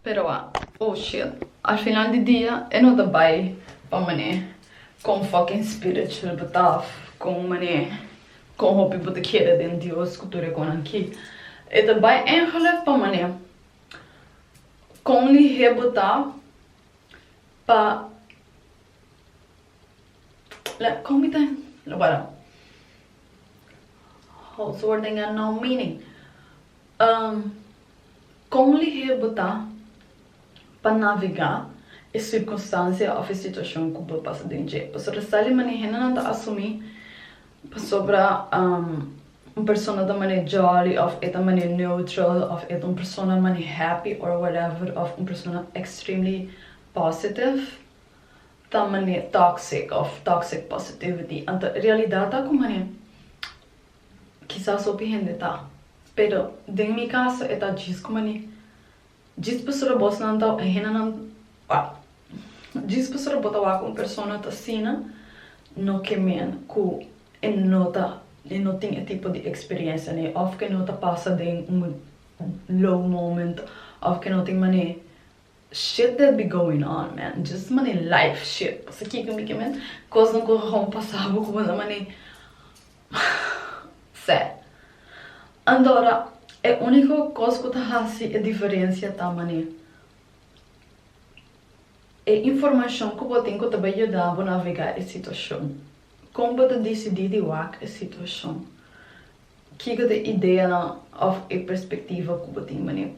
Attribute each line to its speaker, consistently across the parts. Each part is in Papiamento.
Speaker 1: Pero a oh shit, al final di dia e no ta bai pa man'e con fucking spiritual bo ta of con man'e con hopi bo ta kere den Dios cu tur e con aki. E ta bai engeleg pa man'e con lihe bo ta pa la con mi ta lo para. House word ainda no meaning. Um Kon lihé bo ta pa navegá e sirkunstansia òf e situashon ku bo pasa den dje? Pasobra ta sa li manera hendenan ta asumí pasobra um un persona ta manera jòli òf e ta manera neutral òf e ta un persona manera happy or whatever òf un persona extremely positive ta manera toxic òf toxic positivity. Anto e realidat ta ku manera. Kisas hopi hende ta, pero den mi kaso e ta djis ku mani. Djis pastor bosnan ta e hendenan ta djis pastor bo ta wak un persona ta sina no ke men ku e no ta e no tin e tipo di eksperensia nei òf ke no ta pasa den un low moment òf ke no tin mane shit that be going on man djis mane life shit paskiko mikien men kosnan ku a kon pasa bo ku bo ta mane. Sè. Andora, e úniko kos ku ta hasi e diferensia ta manera e informashon ku bo tin ku ta bai yuda bo navegá e situashon, kon bo ta disidí di wak e situashon, kiko ta e ideanan òf e perspektiva ku bo tin manera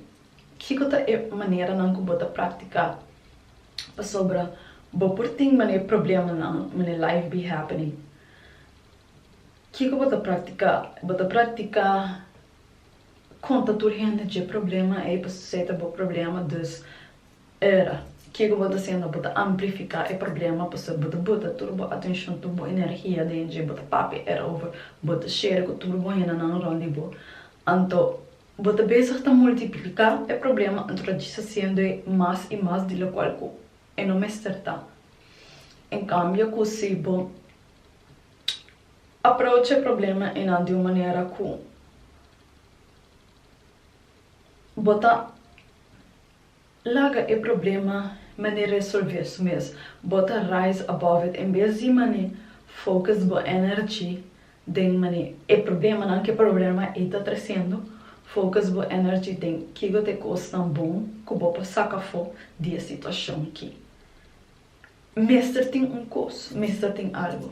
Speaker 1: kiko ta e maneranan ku bo ta praktiká pasobra bo por tin manera problemanan manera life be happening. Kiko bo ta praktiká? Bo ta praktiká konta tur hende dje problema ei pasobra esei ta bo problema. Dus ora kiko bo ta hasiendo? Bo ta amplifiká e problema pasobra bo ta bota tur bo atenshon, tur bo energia den dje, bo ta papia erover, bo ta shera ku tur bo hendenan rònt di bo. Anto bo ta besig ta multipliká e problema anto ta djis hasiendo e mas i mas di lokual ku e no mester ta. En kambio ku si bo. Aprocha e problema enan di un manera ku bo ta laga e problema mane resolve su mes, bo ta rise above it en bes di mane focus bo energy den mane e problemanan ku e problema ei ta trasendo, focus bo energy den kico ta e cosnan bon ku bo por saca afo di e situacion ki. Mester tin un kos, mester tin algo.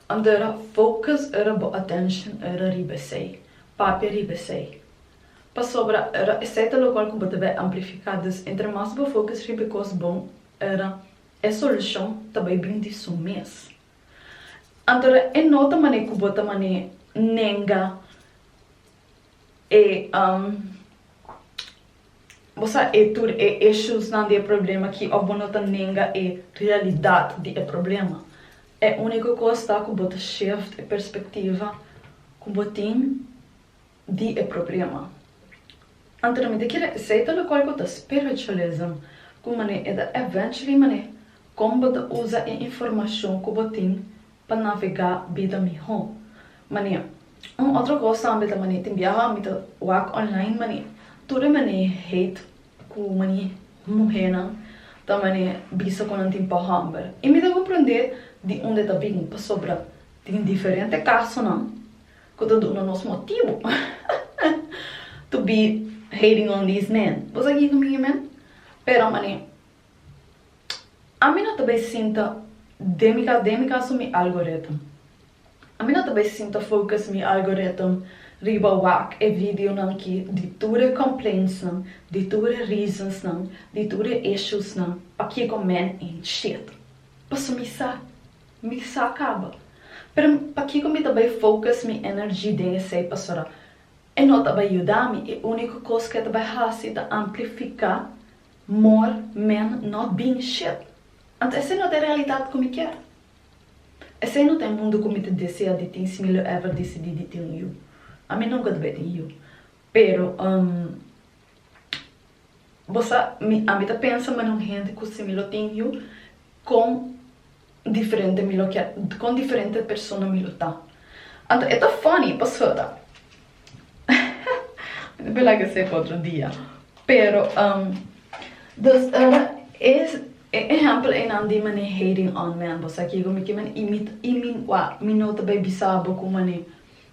Speaker 1: Antara focus era bo attention era riba esei, papia riba esei. Pasobra era esei ta locual cu bo ta bay amplifica, dus entre mas bo focus riba e cos bon era e solucion ta bay bin di su mes. Antara e no ta manera cu bo ta mane nenga e. Bo sa e tur e ishusnan di e problema ki of bo no ta nenga e realidat di e problema. E uniko kos ta ku bo ta shift e perspektiva ku bo tin di e problema. Anto na mi ta kere esei ta lokual ku ta spiritualism ku manera e ta eventually manera kon bo ta usa e informashon ku bo tin pa navegá bida mihó. Mane, Un otro kos tambe ta mane tin biaha mi ta wak online mane tur e mane hate ku mane muhénan ta mane bisa ku nan tin pa hòmber. I mi ta komprendé di unda e ta bini pasobra tin diferente kasonan ku ta duna nos motibu to be hating on these men. Bo sa kiko mi e men? Pero mane Ami no ta bai sinta den mi cas, den mi caso mi algorithm, ami no ta bai sinta focus mi algorithm riba wak e videonan aki di tur e complaintsnan, di tur e reasonsnan, di tur e issuesnan pakico men en shit. Paso mi sa, mi sa caba. Pero pakico mi ta bai focus mi energy den esey pasobra e no ta bai yuda mi, e unico cos cu e ta bai haci ta amplifica More men no bin ship. Anto esei no ta e realidat ku mi kier. Esei no ta e mundu ku mi ta desea di tin si mi lo ever disidí di tin un yu. Ami nunka ta bai tin yu. Pero, um, bo sa, mi, ami ta pensa manera un hende ku si mi lo tin yu, kon diferente mi lo kier, kon diferente persona mi lo ta. Anto e ta funny paso ta mi por laga esei pa otro dia. Pero dos ora e ehempel einan di mane hating on men bo sa kico mi kimen y mi mi no ta bay bisa bo cu mane.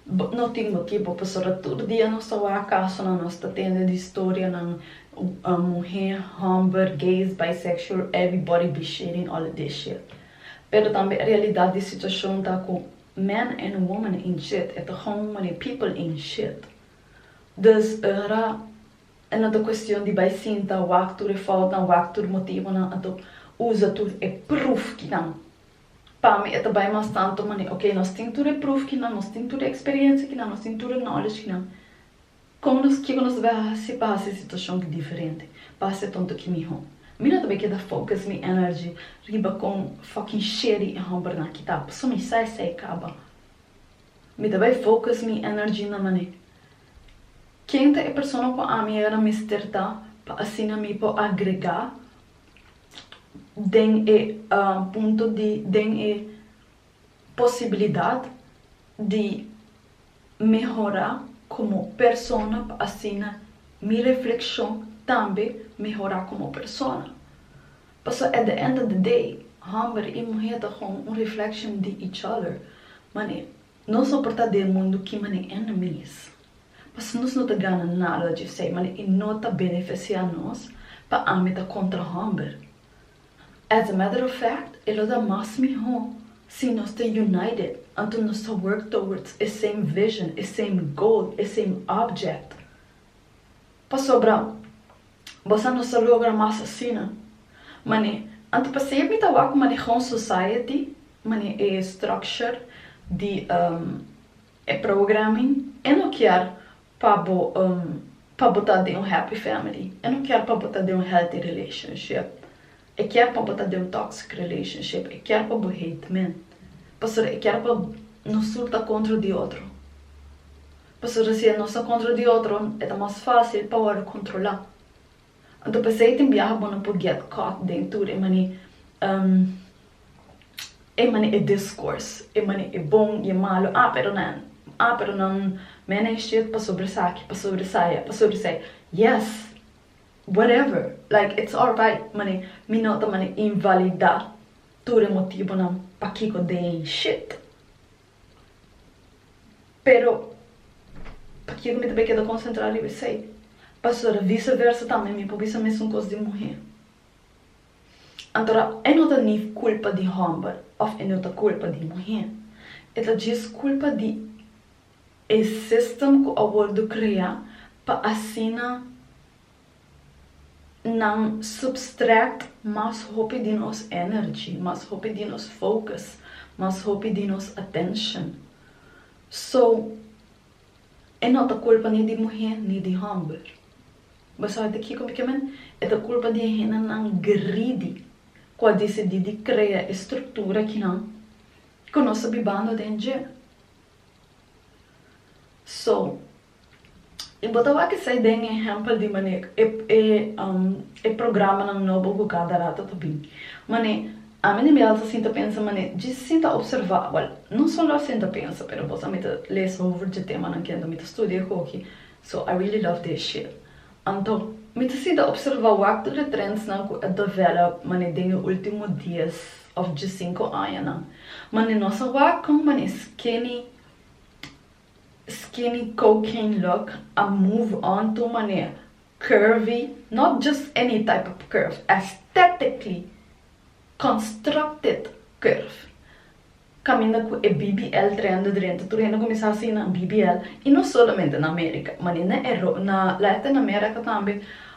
Speaker 1: Bo no tin motibu pasobra tur dia nos ta wak kasonan, nos ta tende di storianan, muhé, homber, gays, bisexual, everybody be shitting all of this shit. Pero tambe e realidat di situashon ta ku men en woman in shit, e ta home muli people in shit. Dus e ra e no ta kuestion di bai sinta wak tur e foutnan, wak tur motibunan, anto uza tur e pruf kinan. Pa mi e ta bai mas tantu manera, ok, nos tin tur e pruf kinan, nos tin tur e eksperiencia kinan, nos tin tur e knowledge kinan, kon nos, kiko nos ta bai hasi pa hasi e situashon ki diferente, pa hasi e tonto ki mihó? Mi no ta bai keda focus mi energy riba kon fucking shady e hòmbernan ki ta, paso mi sa esei kaba. Mi ta bai focus mi energy na manera, ken ta e persona ku ami aiora mester ta pa asina mi por agregá den e punto di den e posibilidat di mehora komo persona pa asina mi reflekshon tambe mehora komo persona paso at the end of the day homber i muhé ta hon un reflekshion di each other manera Nos a portá den e mundu kima nen enemi's. Pasobra nos no ta gana nada dje esei, manera i no ta benefesiá nos pa ami ta kontra hòmber. As a matter of fact, e lo ta mas mihó si nos ta united, anto nos ta work towards e same vision, e same goal, e same object. Pasobra bos a no sa logra mas asina. Man'e, anto pa sey mi ta wak maneha un society, man'e e structure di e programming e no kier pa bo pa bo ta den un happy family, e no kier pa bo ta den un healthy relationship, e kier pa bo ta den un toxic relationship, e kier pa bo hate men, pasobra e kier pa nos tur ta contra di otro. Pasobra si e no sa kontra di otro, e ta mas fásil pa wòrdu kontrolá. Anto p'esei tin biaha bo no por gèt kòt den tur e mane e mane e diskors, e mane e bon i e malu, a pero nan, a pero nan manage dit pasobra esaki, pasobra esaya, pasobra esei. Yes! Whatever! Like, it's alright, mane mi no ta mane invalidá tur e motibunan pakiko den shit. Pero, pakiko mi ta bai keda konsentrá riba esei? Pastora, viseversa tambe mi por bisa mesun kos di muhé. Antora e no ta ni kulpa di hòmber òf e no ta kulpa di muhé. E ta djis kulpa di e sistem ku a wòrdu kreá pa asina nan substract mas hopi di nos energy, mas hopi di nos focus, mas hopi di nos attention. So, e no ta culpa ni di muhé ni di homber. Bo sabi di kico mi ke men? E ta culpa di e hendenan greedy cu a dicidi di crea e structura akinan cu nos ta bibando den dje. So, I bo ta wak esei den e hèmpel di maneer e programanan nobo ku kada rato ta bin. Man'e, ami den Bèlsa sinta pensa man'e dje sinta opservá. Bòl, no solo sinta pensa, pero bos a mi ta lesa hover dje temanan kende mi ta studia e hoki, so I really love their shit. Anto, mi ta sinta opservá wak tur e trendsnan ku a develop man'e den e último dies òf dje sinku añanan. Man'e nos a wak kon man'e skinny, Skinny cocaine look a move on to manera curvy, not just any type of curve, aesthetically constructed curve. Caminda cu e BBL trendo drento tur hende cuminsa haci nan BBL y no solamente na America, manera na Latin America tambe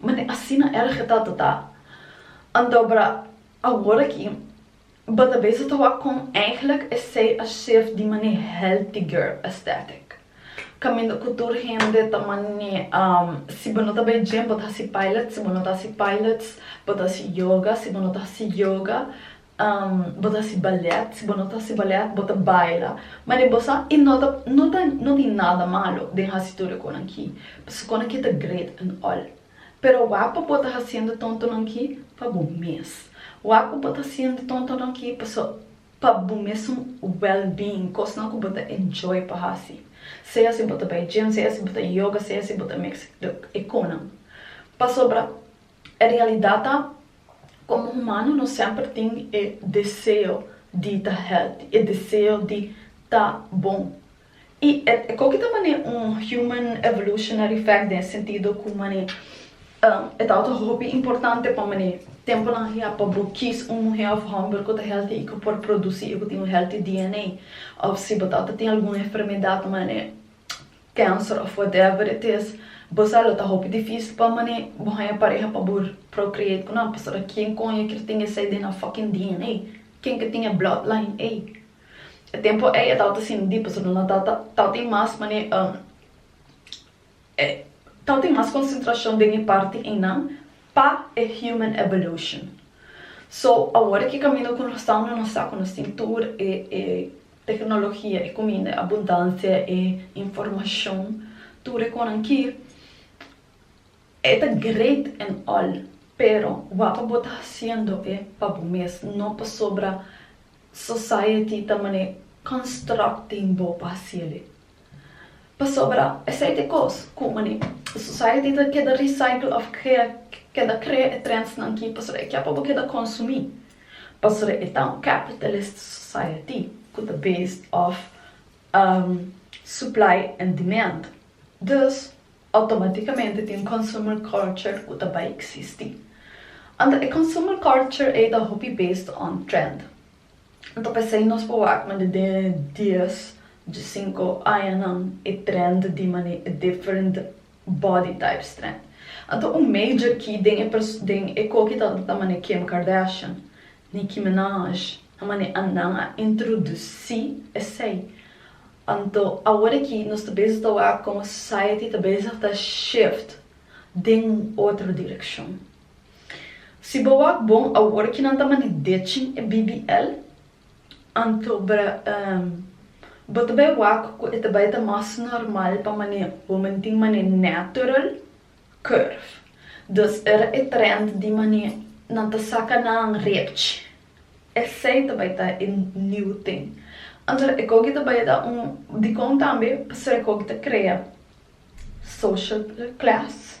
Speaker 1: Ma ni asina erge tata ta. Andober awor aki Batabeso ta wak kon eigenlijk esei a shef di mane healthy girl aesthetic. Kaminda ku tur hende ta mane si bo no ta bay gym bo ta hasi pilates, si bo no ta hasi pilates bo ta hasi yoga, si bo no ta hasi yoga Bo ta hasi ballet, si bo no ta hasi ballet bo ta baila, ma den bo sa i no ta no ta no tin nada malo den hasi tur e konan ki pasobra konan ki ta great and all pero wak pa bo ta hasiendo tontonan ki pa bo mes wak pa bo ta hasiendo tontonan ki pasobra pa bo mes un well being kosnan ku bo ta enjoy pa hasi sea si bo ta bai gym sea si bo ta yoga sea si bo ta mix e konan pasobra E realidat ta, komo humano nos semper tin e deseo di ta healthy, e deseo di ta bon. I e ko ki ta manera un human evolutionary fact den e sentido ku mane e tabata hopi importante pa mane temponan ahier pa bo kies un muhé òf hòmber ku ta healthy i ku por produsi i ku tin un healthy DNA òf si bo tabata tin algun enfermedad mane cancer of whatever it is bo sa lo ta hopi dificil pa mane bo haya pareha pa bo procreate cu nan pasobra ken con e kier tin esai den nan fucking DNA ken ke tin e blood line ey e tempo ey a tabata sin di pasobra nan ta ta tin mas mane ta tin mas concentracion den e parti ey nan pa e human evolution so awor e ki camino cu nos ta no nos sa cu nos tin tur e Tecnologia e cuminda e abundancia e informacion tur e conan ki e ta great and all pero wak bo ta haciendo e pa bo mes no pasobra society ta mane constructing bo pa haciele. Pasobra esei t'e kos ku mane e society ta keda recycle of keda krea e trendsnan ki pasobra e kia por bo keda konsumí, pasobra e ta un capitalist society ku ta based of supply and demand. Dus automaticamente tin un consumer culture ku ta bai existi. Anto e consumer culture ei ta hopi based on trend. Ta pesey nos por wak ma dende dies dje sinku añanan e trend di mane different body types trend. Anto un major key den e den e koki tabata ta mane Kim Kardashian, Nicki Minaj, ta mane annan a introduci esey. Anto awor aki nos ta bezig ta wak como society ta bezig ta shift den otro direccion. Si bo wak bon awor ki nan ta mani dechin e BBL, anto bra ehm bo ta bai wak ku e ta bai ta mas normal pa mane bo mani tin mane natural curve. Dus era e trend di mane nan ta saka nan repch. Esei ta bai ta e new tin. Anto e koki ta bai ta un dikon tambe pasobra e koki ta krea social class.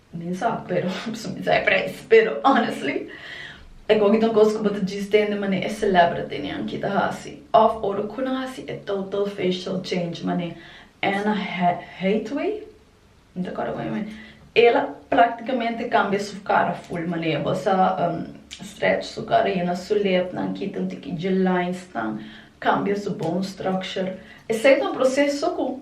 Speaker 1: Mi sa, pero su mi sa e prijs. Pero honestly, e koki ta un kos ku bo ta djis den di mané e celebritynan ki ta hasi òf ora ku nan hasi e total facial change. Mané Anna Hathaway, mi ta kòrda moña mi, el a praktikamente kambia su kara ful. Mané e bos a stretch su kara, yena su lepnan, kita un tiki dje linesnan, kambia su bone structure. Esei ta un proseso ku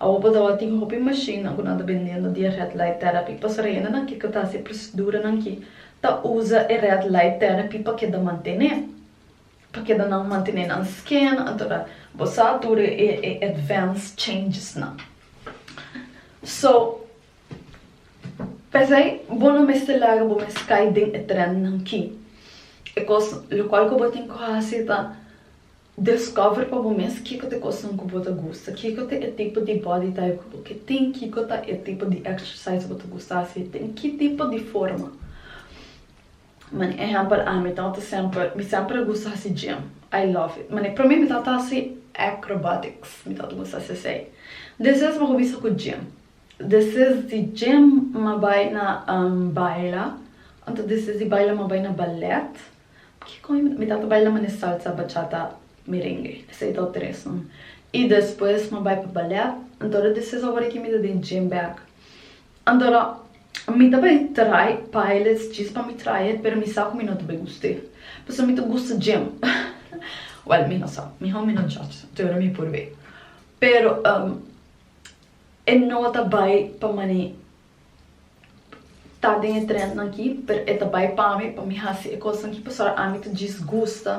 Speaker 1: Awobo tabatin tin hopi mashinnan ku nan ta bendendo di e red light therapy. Pastor Reina nan kiko ta hasi proseduranan ki ta usa e red light therapy pa keda mantené, pa keda nan mantené nan skin anto nan bo sa tur e advance changes nan. So pesei bo no mester laga bo mes kai den e trendnan ki. E kos lokual ku bo tin ku hasi ta Discover pa bo mes kiko ta e cosnan cu bo ta gusta, kiko ta e tipo di body type cu bo ke tin, kiko ta e tipo di exercise bo ta gusta haci e tin ki tipo di forma. Mane ehempel ami tabata semper, mi semper a gusta haci gym, I love it, mane prome mi tabata haci acrobatics, mi tabata gusta haci esey, despues mi cuminsa cu gym, despues di gym mi a bay na baila, anto despues di baila mi a bay na ballet, Aki con e mi tata bai la mane salsa, bachata, merengue. Esey ta otro res no. Y despues mi a bai pa ballet. Antora di ses awor aki mi ta den gym bek. Antora mi ta bai trae pilots djis pa mi trae e pero mi sa cu mi no ta bai guste. Pasobra mi ta gusta gym. Well mi no sa. Mi hou mi no judge so te ora mi por bay. Pero e no ta bai pa mane ta den e trendnan aki pero e ta bai pami pa mi hasi e cosnan aki pasobra ami ta djis gusta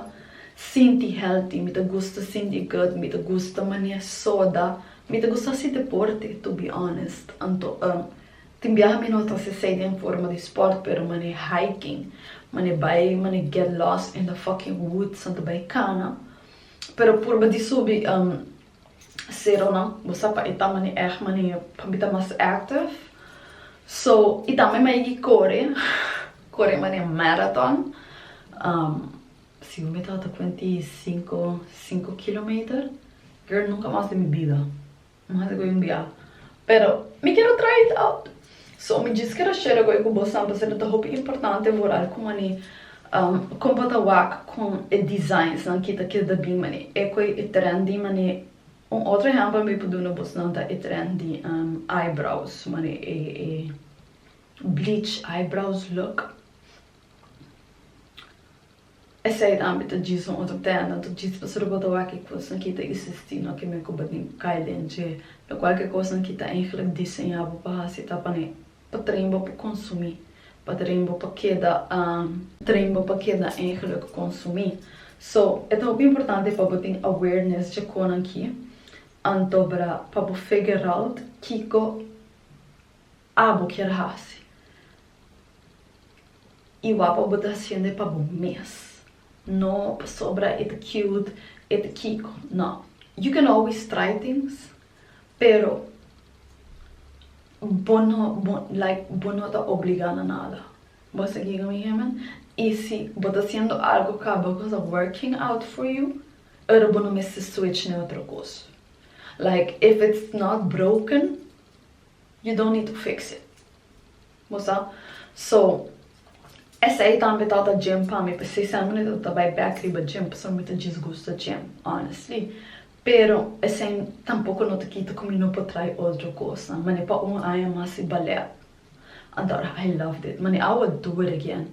Speaker 1: sinti healthy mi ta gusta sinti good mi ta gusta mania soda mi ta gusta hasi deporte to be honest anto tin biaha mi no ta hasi esei den forma di sport pero mane hiking mane bai mane get lost in the fucking woods anto bai cana pero purba di subi Seronan bo sa pa e ta mane ech mane pa mi ta mas active so y tambe mi a yeki core core mane marathon si bo mi tawata cuenta y cinco cinco kilometer girl nunca mas den mi bida mi haci coe un bia Pero mi quiero try it out. So mi djis quiero share goi cu bosan pasobra ta hopi importante vooral cu mani con bo ta wak con e designs nan kita kies da bin mani e cu e trendy mani un otro ehempel mi por duna boso nan ta e trendy eyebrows mani e bleach eyebrows look. Esei ta ambi ta djis un otro tenda, anto djis pa Suruba ta wak kikus nan kita i sisti, no ke meko batin ku kai den dje. Lokual ke kos nan kita enkele diseñá bo pa hasi ta pa ne pa tren bo pa konsumí, pa tren bo pa keda. Tren bo pa keda enkele ku konsumí. So, e ta hopi importante pa bo tin awareness dje konan ki, anto bra pa bo fegeralt kiko. Abo kier hasi i wak pa bo ta hasiende pa bo mes, no pasobra e ta cute, e ta kiko, no. You can always try things, pero bo no bo like bo no ta obliga na nada, bo a sigui cu mi hende, i si bo ta hasiendo algo cu a bo cosa working out for you, ora bo no mester switch na e otro cos, like if it's not broken, You don't need to fix it. Bo sa? So, esei tambe tata djem pa mi. P'esei semper mi ta trata bai bek riba djem, pasobra mi ta disgusta djem, honestly. Pero, esei tampoko no ta kita ku mi no por trai otro kosnan. Mane pa un aña mas i balèt. Antora I loved it. Mane I would do it again.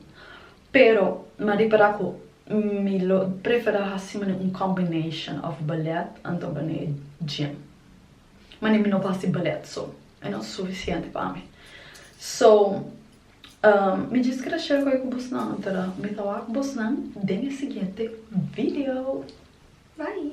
Speaker 1: Pero, mi a ripará ku mi lo preferá hasi mane un combination of balèt anto mane djem. Mane mi no por hasi ballet so e no ta sufisiente pa mi. So mi djis keda share cu e cu bosnan, mi ta wak bosnan den e siguiente video. Bye!